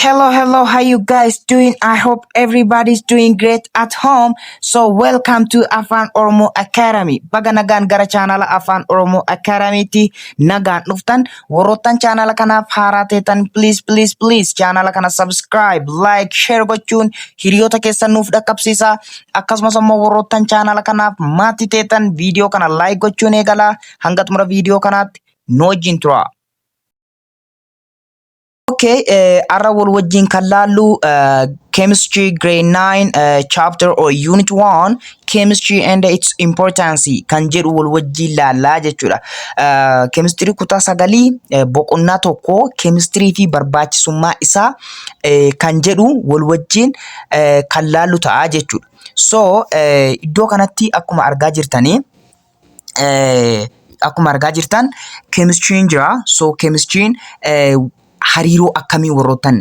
Hello, hello, how you guys doing? I hope everybody's doing great at home. So welcome to Afan Oromo Academy. Baga nagaan gara chaanala Afan Oromo Academy ti nagaan dhuftan. Warroottan chaanala kanaaf haaraa teetan please please please chaanala kana subscribe, like, share gochuun hiriyoota keessan nuuf dhaqqabsiisa. Akkasumas immoo warroottan chaanala kanaaf maatii teetan viidiyoo kana like gochuun eegala. Hanga xumura viidiyoo kanaatti nu wajjin tura. Okay, eh, arra wal wajjin kan laallu eh, chemistry grade 9 eh, chapter or unit 1 chemistry and its importance kan jedhu wal wajjin laallaa jechuudha. Eh, chemistry kutaa sagalii eh, boqonnaa tokko chemistry fi barbaachisummaa isaa eh, kan jedhu wal wajjin eh, kan laallu ta'a jechuudha. So eh, iddoo kanatti akkuma argaa jirtanii akkuma argaa jirtan keemistriin jira. So keemistriin hariiroo akkamii warroottan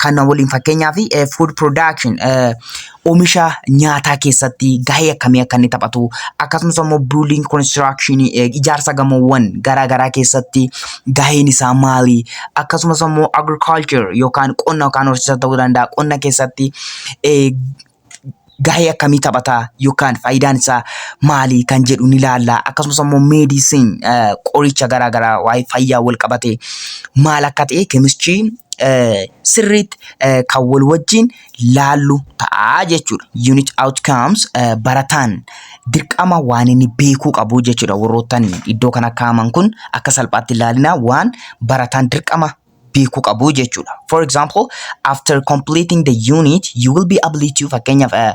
kana waliin fakkeenyaaf food production oomisha nyaataa keessatti gahee akkamii akka inni taphatu akkasumas immoo building construction ijaarsa gamoowwan garaa garaa keessatti gaheen isaa maali akkasumas immoo agriculture yookaan qonna yookaan horsiisa ta'uu danda'a qonna keessatti gahee akkamii taphata yookaan faayidaan isaa maali kan jedhu ni ilaalla. Akkasumas immoo meedisin qoricha garaa garaa waa'ee fayyaa wal qabate maal akka ta'e keemischii sirriitti kan wal wajjin laallu ta'a jechuudha. Unit outcomes barataan dirqama waan inni beekuu qabu jechuudha. Warroottan iddoo kana kaa'aman kun akka salphaatti ilaalina waan barataan dirqama beeku qabu jechuudha. For example, after completing the unit, you will be able to fakkeenyaaf eh,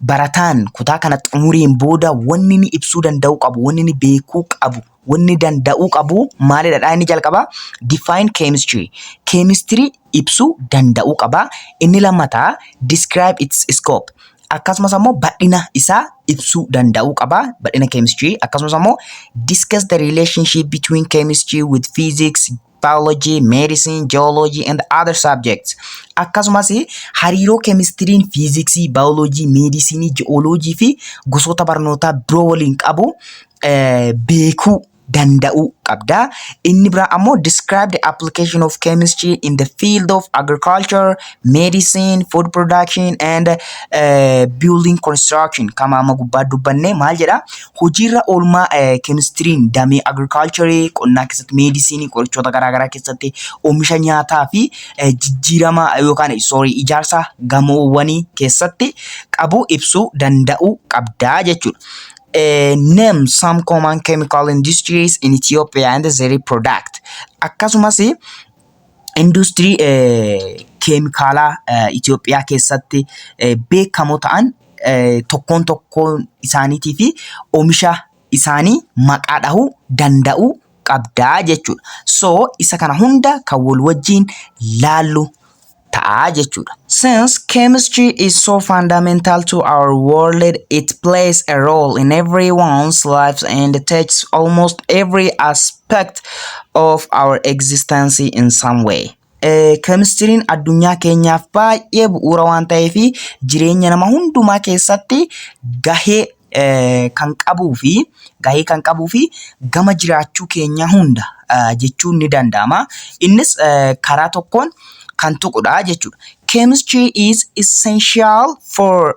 barataan kutaa kana xumuriin booda wanni ni ibsuu danda'uu qabu, wanni ni beekuu qabu, wanni danda'uu qabu maalidha dha inni jalqaba? Define chemistry. Chemistry ibsuu danda'uu qaba. Inni lammataa describe its scope. Akkasumas ammoo bal'ina isaa ibsuu danda'uu qaba. Bal'ina chemistry. Akkasumas ammoo discuss the relationship between chemistry with physics, biology, medicine, geology and other subjects. Akkasumas hariiroo keemistiriin fiiziksii, baayoloojii, meedisinii, ji'ooloojii fi gosoota barnootaa biroo waliin qabu eh, beekuu danda'uu qabda. Inni biraa ammoo describe the application of chemistry in the field of agriculture, medicine, food production and eh, building construction kama amma gubbaa dubbanne maal jedha? hojiirra oolmaa keemistiriin damee agirikaalcharii qonnaa keessatti meedisinii qorichoota garaagaraa keessatti oomisha nyaataa fi jijjiirama yookaan soorii ijaarsa gamoowwanii keessatti qabu ibsuu danda'uu qabdaa jechuudha. Name some common chemical industries in Ethiopia and their product. Akkasumas industirii keemikaalaa Itoophiyaa keessatti beekamoo ta'an tokkoon tokkoon isaaniitii fi omisha isaanii maqaa dhahuu danda'uu qabdaa jechuudha. So isa kana hunda kan wal wajjiin laallu ta'a jechuudha. Since chemistry is so fundamental to our world, it plays a role in everyone's lives and touches almost every aspect aspect of our existence in some way. Keemistiriin addunyaa keenyaaf baay'ee bu'uura waan ta'eef jireenya nama hundumaa keessatti gahee kan qabuu fi gahee kan qabuu fi gama jiraachuu keenyaa hunda jechuun ni danda'ama. Innis karaa tokkoon kan tuqudha jechuudha. Chemistry is essential for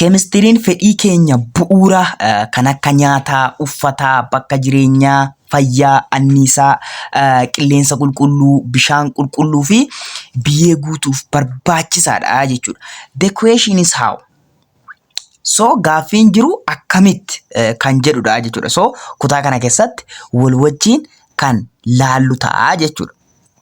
Keemistiriin fedhii keenya bu'uura kan akka nyaataa, uffataa, bakka jireenyaa, fayyaa, anniisaa, qilleensa qulqulluu, bishaan qulqulluu fi biyyee guutuuf barbaachisaadha jechuudha. The question is how? So gaaffiin jiru akkamitti kan jedhudha jechuudha. So kutaa kana keessatti wal wajjin kan laallu ta'a jechuudha.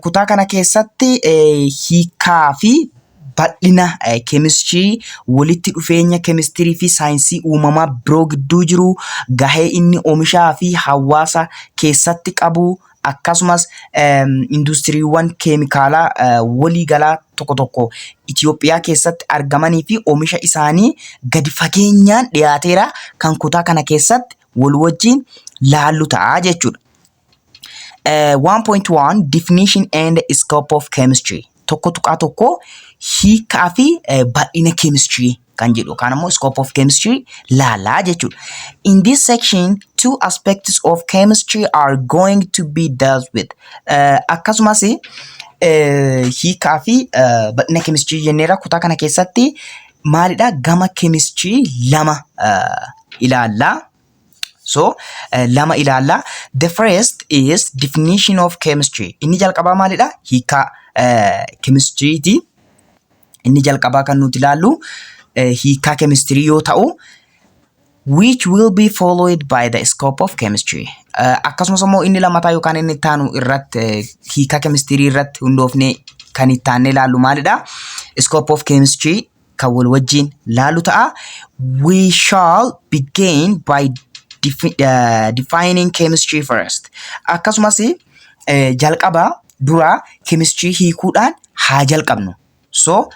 Kutaa kana keessatti hiikaa fi bal'ina keemistirii, walitti dhufeenya keemistirii fi saayinsii uumamaa biroo gidduu jiru, gahee inni oomishaa fi hawaasa keessatti qabu, akkasumas industiriiwwan keemikaalaa waliigalaa tokko tokko Itoophiyaa keessatti argamanii fi oomisha isaanii gadi fageenyaan dhiyaateera kan kutaa kana keessatti wal wajjin laallu ta'a jechuudha. Eh, 1.1 Definition and Scope of Chemistry tokko tuqaa tokko hiikaa fi eh, bal'ina chemistry kan jedhu yookaan immoo scope of chemistry laalaa jechuudha. In this section, two aspects of chemistry are going to be dealt with. Eh, Akkasumas eh, hiikaa fi eh, bal'ina chemistry jenneera kutaa kana keessatti maalidha gama chemistry lama eh, ilaalla. So, eh, lama ilaalla. The first is definition of chemistry. Inni jalqabaa maalidha? Hiikaa eh, chemistry ti. Inni jalqabaa kan nuti ilaallu eh, hiikaa chemistry yoo ta'u, which will be followed by the scope of chemistry. Eh, akkasumas immoo inni lammataa yookaan inni itti aanu irratti eh, hiikaa chemistry irratti hundoofnee kan itti aannee ilaallu maalidha? Scope of chemistry kan wal wajjiin laalu ta'a. We shall begin by defi- eh, defining chemistry first. Akkasumas eh, jalqaba dura chemistry hiikuudhaan haa jalqabnu. So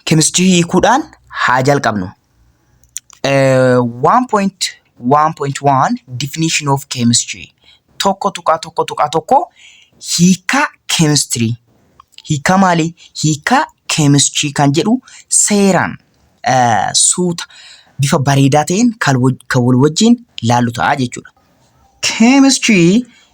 chemistry hiikuudhaan haa jalqabnu. 1.1.1 Definition of Chemistry tokko tuqaa tokko tuqaa tokko hiikaa keemistirii hiikaa maalii hiikaa keemistirii kan jedhu seeraan eh, suuta bifa bareedaa ta'een kan wal- kan wal wajjin laallu ta'a jechuudha. Chemistry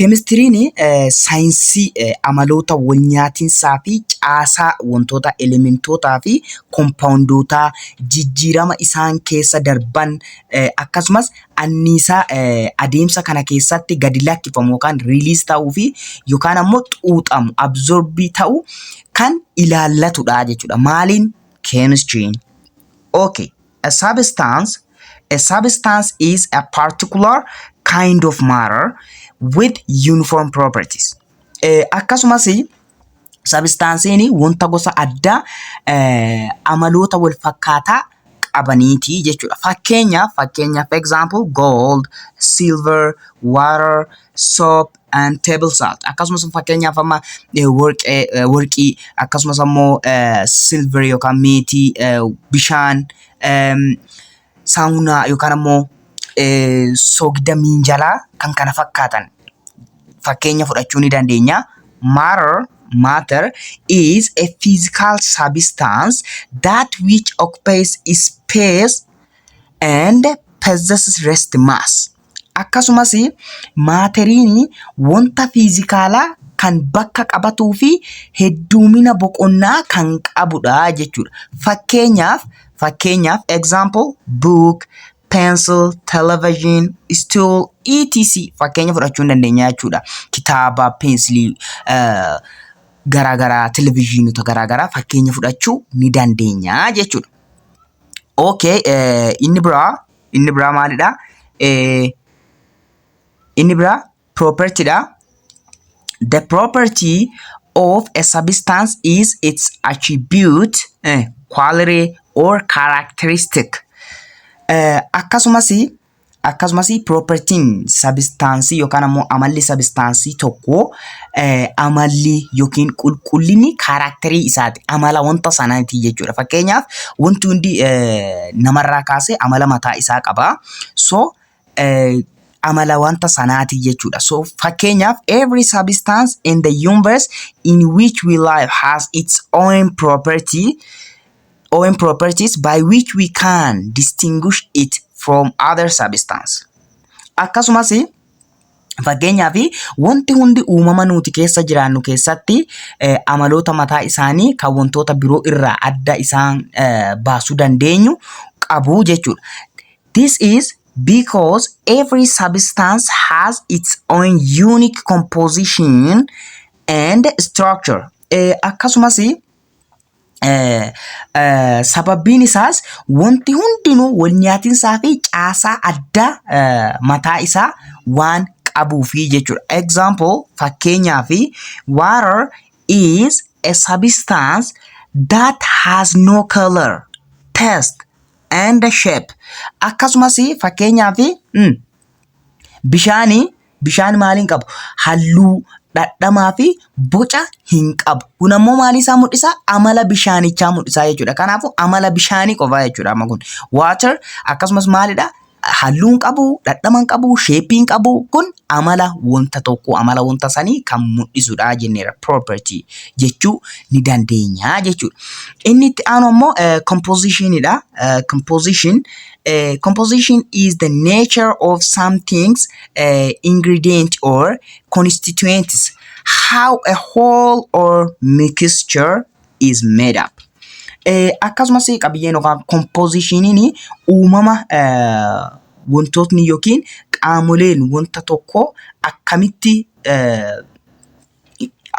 Keemistiriin saayinsii amaloota walnyaatinsaa fi caasaa wantootaa, elementootaa fi kompaawundootaa, jijjiirama isaan keessa darban, akkasumas anniisaa adeemsa kana keessatti gadi lakkifamu yookaan release ta'uu fi yookaan ammoo xuuxamu, absorb ta'u kan ilaallatudha jechuudha. Maaliin? Keemistiriin. Okay. A substance A substance is a particular kind of matter with uniform properties. Eh, akkasumas sabistaansiin wanta gosa addaa eh, amaloota wal fakkaataa qabaniiti jechuudha. Fakkeenyaaf fakkeenyaaf example gold, silver, water, soap, and table salt akkasumas fakkeenyaaf amma eh, warqee eh, warqii akkasumas ammoo eh, silver yookaan meetii eh, bishaan em, saamunaa yookaan ammoo eh, soogidda miinjalaa kan kana fakkaatan fakkeenya fudhachuu ni dandeenya. Matter, matter is a physical substance that which occupies space and possesses rest mass. Akkasumas maateriin wanta fiizikaalaa kan bakka qabatuu fi hedduumina boqonnaa kan qabudha jechuudha. Fakkeenyaaf fakkeenyaaf example book, pencil, television, stool, etc fakkeenya fudhachuu ni dandeenya jechuudha. Kitaaba, peensilii garaa garaa, televizyiinota garaa garaa fakkeenya fudhachuu ni dandeenya jechuudha. Okay inni biraa. Inni biraa maalidha? Inni biraa property dha. The property of a substance is its attribute, eh, quality or characteristic. Eh, akkasumas akkasumas propertiin sabistaansii yookaan ammoo amalli sabistaansii tokko eh, amalli yookiin qulqullinni kaaraakterii isaati. Amala wanta sanaati jechuudha. Fakkeenyaaf wanti hundi eh, namarraa kaasee amala mataa isaa qaba. So eh, amala wanta sanaati jechuudha. So fakkeenyaaf every substance in the universe in which we live has its own property own properties by which we can distinguish it from other substance. Akkasumas Fakkeenyaaf wanti hundi uumama nuti keessa jiraannu keessatti eh, amaloota mataa isaanii kan wantoota biroo irraa adda isaan eh, baasuu dandeenyu qabu jechuudha. This is because every substance has its own unique composition and structure. Eh, akkasumas Sababbiin isaas wanti hundinuu wal nyaatinsaa fi caasaa addaa mataa isaa waan qabuufi jechuudha. Example fakkeenyaaf water is a substance that has no color, taste and shape. Akkasumas fakkeenyaaf. Bishaani bishaan maal hin qabu? Halluu, dhadhamaa fi boca hin qabu. Kun ammoo maalii isaa mul'isaa? Amala bishaanichaa mul'isaa jechuudha. Kanaafuu amala bishaanii qofaa jechuudha amma kun. Water akkasumas maalidha? Halluu hin qabu, dhadhama hin qabu, sheeppii hin qabu. Kun amala wanta tokkoo, amala wanta sanii kan mul'isudha jenneera. Property jechuu ni dandeenya jechuudha. Inni itti aanu ammoo composition dha. Composition uh, composition is the nature of some things uh, ingredient or constituents how a whole or mixture is made up uh, akkasumas qabiyyeen yookaan kompoozishiniin uumama uh, wantootni yookiin qaamoleen wanta tokko akkamitti uh,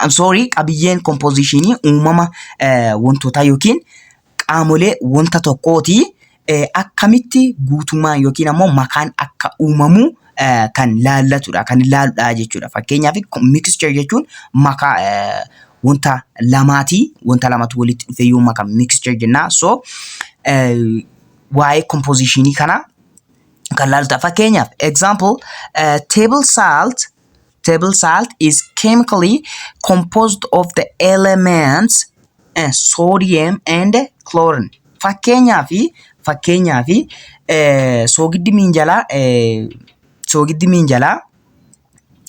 I'm sorry qabiyyeen kompoozishinii uumama eh, wantootaa yookiin qaamolee wanta tokkooti eh, akkamitti guutummaan yookiin ammoo makaan akka uumamu eh, kan laallatudha kan ilaaludha jechuudha fakkeenyaaf mixture jechuun makaa eh, wanta lamaati wanta lamatu walitti dhufe yoo makame mixture jennaa so eh, waa'ee kompoozishinii kana kan laaludha fakkeenyaaf example eh, table salt Table salt is chemically composed of the elements eh, sodium and chlorine. Fakkeenyaa fi fakkeenyaa fi eh, soogiddi miinjalaa eh, soogiddi miinjalaa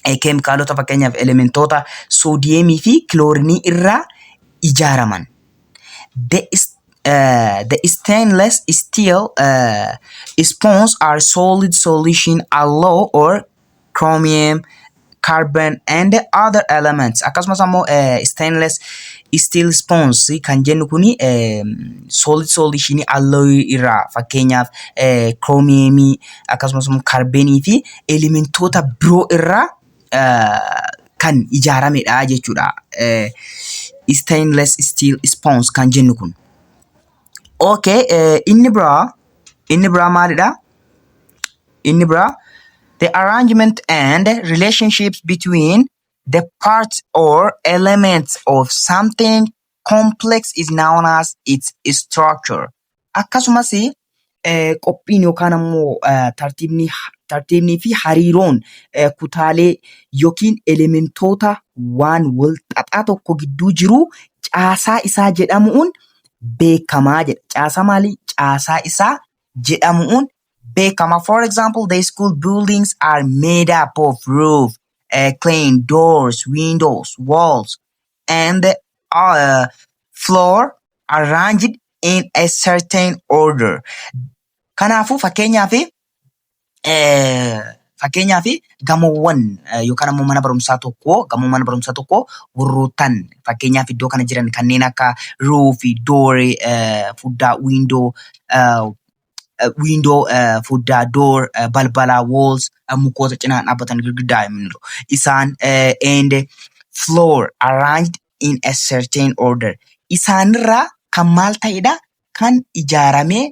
eh, keemikaalota fakkeenyaaf elementoota soodiyeemii fi kiloorinii irraa ijaaraman. The, is- eh, the stainless steel eh, spoons are solid solution alloy or chromium, carbon and other elements akkasumas ammoo eh, stainless steel spoons kan jennu kuni eh, solid solution alloy irraa fakkeenyaaf eh, chromium akkasumas ammoo carbon fi elementoota biroo irraa eh, kan ijaaramedha jechuudha. Eh, stainless steel spoons kan jennu kun. Okay, eh, inni biraa inni biraa maalidha? Inni biraa the arrangement and relationships between the parts or elements of something complex is known as its structure. Akkasumas eh, qophiin yookaan ammoo eh, tartiibni tartiibnii fi hariiroon eh, kutaalee yookiin elementoota waan wal xaxaa tokko gidduu jiru caasaa isaa jedhamuun beekamaa jedha. Caasaa maalii? Caasaa isaa jedhamuun beekama. For example, the school buildings are made up of roof, uh, claim, doors, windows, walls, and the uh, floor arranged in a certain order. Kanaafuu fakkeenyaaf eh, fakkeenyaaf gamoowwan eh, yookaan ammoo mana barumsaa tokko gamoo mana barumsaa tokko warroottan fakkeenyaaf iddoo kana jiran kanneen akka ruufi, dooree, eh, fuddaa, wiindoo, eh, window foddaa door balbalaa walls mukoota cinaan dhaabbatan girgiddaa himniru isaan and floor arranged in a certain order isaanirraa kan maal ta'edha kan ijaaramee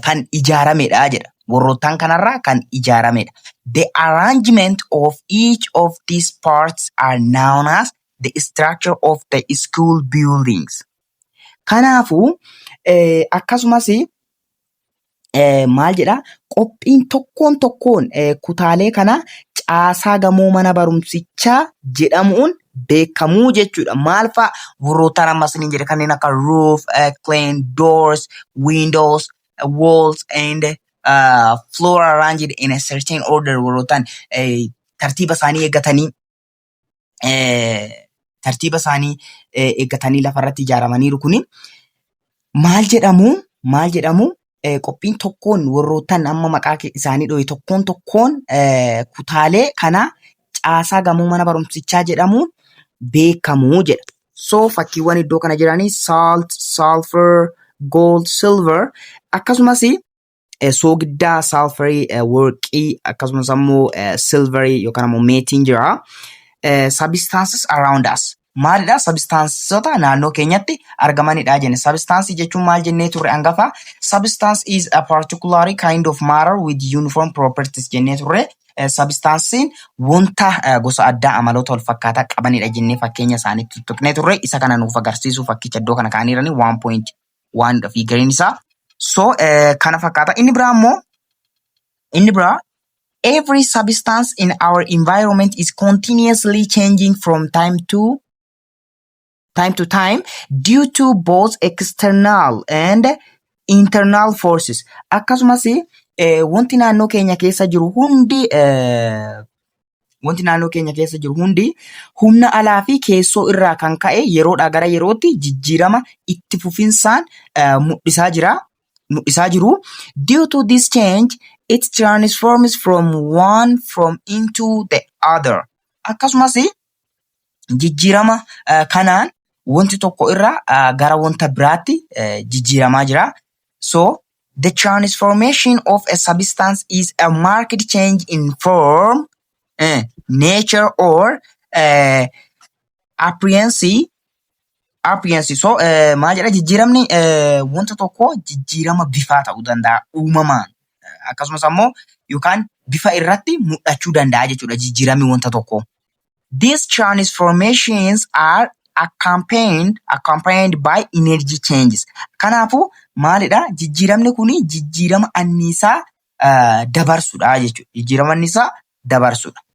kan ijaaramedha jedha warroottaan kanarraa kan ijaaramedha the arrangement of each of these parts are known as the structure of the school buildings Kanaafuu akkasumas maal jedha qophiin tokkoon tokkoon kutaalee kana caasaa gamoo mana barumsichaa jedhamuun beekamuu jechuudha. Maal fa'a warroottaan amma isiniin jedhe kanneen akka roof, clean, doors, windows, walls and uh, floor arranged in a certain order warroottaan tartiiba isaanii eeggatanii tartiiba isaanii eeggatanii lafarratti ijaaramaniiru kuni maal jedhamu maal jedhamu qophiin tokkoon warroottan amma maqaa isaanii dho'e tokkoon tokkoon kutaalee kana caasaa gamoo mana barumsichaa jedhamuun beekamu jedha. So fakkiiwwan iddoo kana jiranii salt, sulfur, gold, silver akkasumas eh, soogiddaa saalfarii eh, worqii akkasumas ammoo eh, silverii yookaan ammoo meetiin jira. Eh, substances around us maalidha substansota naannoo keenyatti argamanidha jenne substance jechuun maal jennee turre angafa substance is a particular kind of matter with uniform properties jennee turre Eh, substance'n wanta eh, gosa addaa amaloota wal fakkaataa qabanidha jennee fakkeenya isaaniitti tuttuqnee turre isa kana nuuf agarsiisuu fakkicha iddoo kana kaa'aniirani waanidha fi gariin isaa so eh, kana fakkaata inni biraa immoo inni biraa every substance in our environment is continuously changing from time to time to time due to both external and internal forces akkasumas eh, wanti naannoo keenya keessa jiru hundi eh, Wanti naannoo keenya keessa jiru hundi humna alaa fi keessoo irraa kan ka'e yeroodhaa gara yerootti jijjiirama itti fufinsaan eh, mul'isaa jira. Mul'isaa jiru. Due to this change, it transforms from one from into the other. Akkasumas jijjiirama eh, kanaan wanti tokko irraa eh, gara wanta biraatti eh, jijjiiramaa jira. So, The transformation of a substance is a marked change in form, eh, nature, or eh, appearance. Appearance. So, eh, maal jedha jijjiiramni eh, wanta tokko jijjiirama bifaa ta'uu danda'a uumamaan Eh, akkasumas ammoo yookaan bifa irratti mul'achuu danda'a jechuudha jijjiiramni wanta tokko. These transformations are accompanied, accompanied by energy changes. Kanaafuu maalidha? Jijjiiramni kun jijjiirama anniisaa uh, dabarsudha jechuudha. Jijjiirama anniisaa dabarsudha.